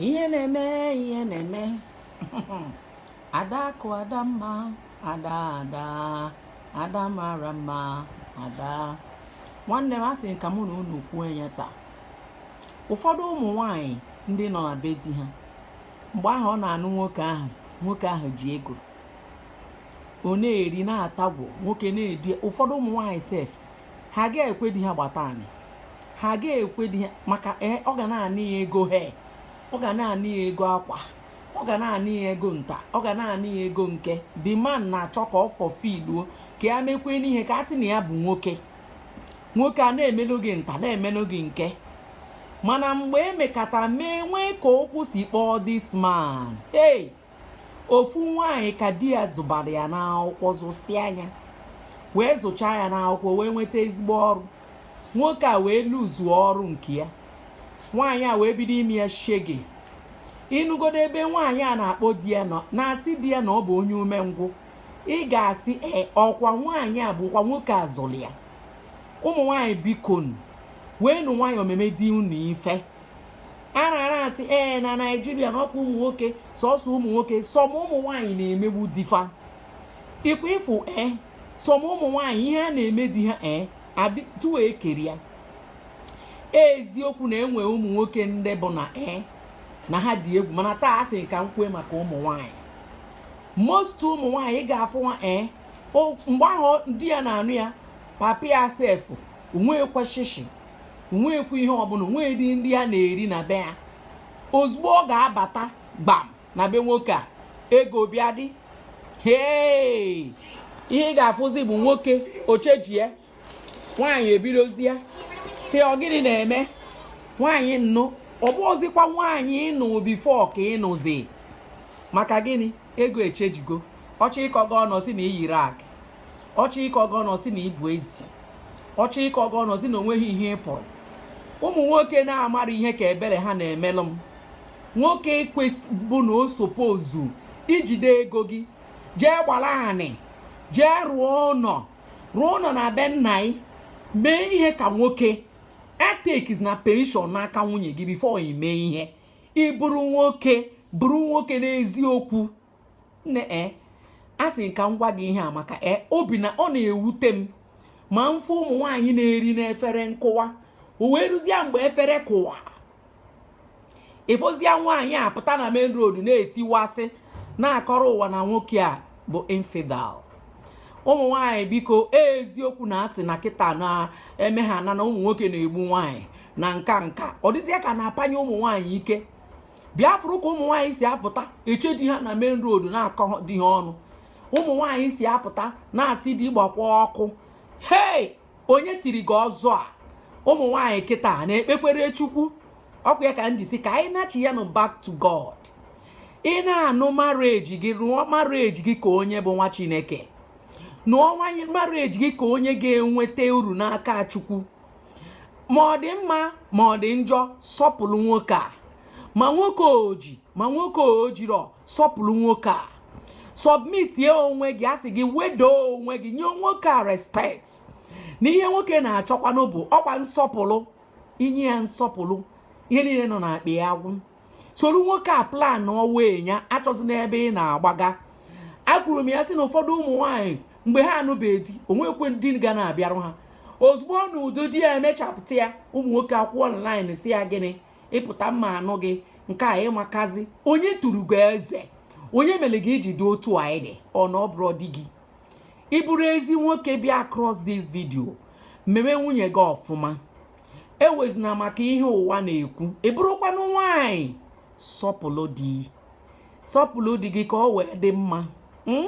ihe na-eme ihe na-eme adakụ adamma ada ada ada mara mma ada nwanne m asị ka mụ na unu kwuo ya taa ụfọdụ ụmụ nwanyị ndị nọ na be di ha mgbe ahụ ọ na-anụ nwoke ahụ nwoke ahụ ji ego ọ na-eri na-atagwo nwoke na-edi ụfọdụ ụmụ nwanyị sef ha ga-ekwe di ha gbata anị ha ga-ekwe di ha maka ee ọ ga na-anị ya ego hair ọ ga na-anị ya ego akwa ọ ga na-anị ya ego nta ọ ga na-anị ya ego nke the man na-achọ ka ọ fulfilluo ka ya mekwenụ ihe ka a sị na ya bụ nwoke nwoke a na-emelụ gị nta na-emelụ gị nke mana mgbe e mekata mee nwee ka okwu si kpọọ this man hey ofu nwaanyị ka di ya zụbara ya n'akwụkwọ zụsịa nya wee zụchaa ya n'akwụkwọ wee nweta ezigbo ọrụ nwoke a wee loseuo ọrụ nke ya nwaanyị a wee bido ime ya shege ị nụgodo ebe nwaanyị a na-akpọ di ya nọ na-asị di ya na ọ bụ onye umengwụ ị ga-asị ee ọkwa nwaanyị a bụkwa nwoke a zụrụ ya ụmụ nwaanyị bikonu weenụ nwayọọ meme di unu ife a na-ara asị ee na naijiria na ọkwa ụmụ nwoke sọsọ ụmụ nwoke some ụmụ nwaanyị na-emegbu di fa ịkwa ịfụ ee some ụmụ nwaanyị ihe ha na-eme di ha ee tuwe ekeri ya eziokwu na e nwe ụmụ nwoke ndị bụ na ee na ha dị egwu mana taa asị ka m kwue maka ụmụ nwaanyị most ụmụ nwaanyị ga-afụ nwa ee mgbe ahụ di ya na-anụ ya papa ya sef onweghịkwa shishi onweghịkwa ihe ọbụla onweghịdị nri a na-eri na be ya ozugbo ọ ga-abata gbam na be nwoke a ego bịa dị hee ihe ị ga-afụzi bụ nwoke ọ chenjia nwaanyị ebidozia sị ọ gịnị na-eme nwaanyị m nụ ọ bụghịzikwa nwaanyị ị nụ before ka ị nụzi maka gịnị ego echenjigo ọ chọọ ịkọ gị ọnụ ọ sị na i yiri akị ọ chọọ ịkọ gị ọnụ ọ sị na ị bụ ezi ọ chọọ ịkọ gị ọnụ ọ sị na onweghị ihe ị pụrụ ụmụ nwoke na-amarọ ihe ka ebele ha na-emelụ m nwoke kwesị bụ na ọ suppose ijide ego gị jee gbala anị jee rụọ ụnọ rụọ ụnọ na be nna gị mee ihe ka nwoke etakezina permission n'aka nwunye gị before i mee ihe ị bụrụ nwoke bụrụ nwoke n'eziokwu nne e eh, a sị ka m gwa gị ihe a maka e eh, obi na ọ na-ewute m ma m fụ ụmụ nwaanyị na-eri n'efere nkụwa o wee ruzie mgbe efere kụwa ị fụzia nwaanyị a pụta na main road na-etiwasị na-akọrọ ụwa na nwoke a bụ infidel ụmụ nwaanyị biko e, eziokwu na asị na kịta na-eme ha na na ụmụ nwoke na-egbu nwaanyị na nka nka ọ dịzịa ka na-apanye ụmụ nwaanyị ike bịa fụrụ ka ụmụ nwaanyị si apụta eche di ha na main road na-akọ di ha ọnụ ụmụ nwaanyị si apụta na-asị di gbakwa ọkụ hei onye tiri gị ọzọ a ụmụ nwaanyị kịta na-ekpekwere chukwu ọ kwa ya ka m ji sị ka anyị nachiyanụ back to god ị na-anụ marriage gị rụọ marriage gị ka onye bụ nwa chineke nụọ nwanyị marriage gị ka onye ga-enweta uru n'aka chukwu ma ọ dị mma ma ọ dị njọ sọpụlụ nwoke a ma nwoke o ji ma nwoke o jirọ sọpụlụ nwoke a submitie onwe gị a sị gị wedo onwe gị nye nwoke a respect na ihe nwoke na-achọkwanụ bụ ọ kwa nsọpụlụ i nye ya nsọpụlụ ihe niile nọ n'akpa ya agwụ soro nwoke a plan ụwa enya achọzi n'ebe ị na-agbaga akwuru m ya sị na ụfọdụ ụmụ nwaanyị mgbe ha anụbeghị di o nwekwe ndị ga na-abịarụ ha ozugbo ọ nụdo di ya emechapụta ya ụmụ nwoke akwụ online sị ya gịnị ị pụta m ma anụ gị nke a ị makazi onye tụrụ gị eze onye mere gị i ji dị otu a ị dị ọ na ọ bụrọ di gị ị bụrụ ezi nwoke bịa across this video meme nwunye gị ọfụma ewezina maka ihe ụwa na-ekwu ị bụrụkwanụ nwaanyị sọpụlụ di sọpụlụ di gị ka ọ wee dị mma hmm?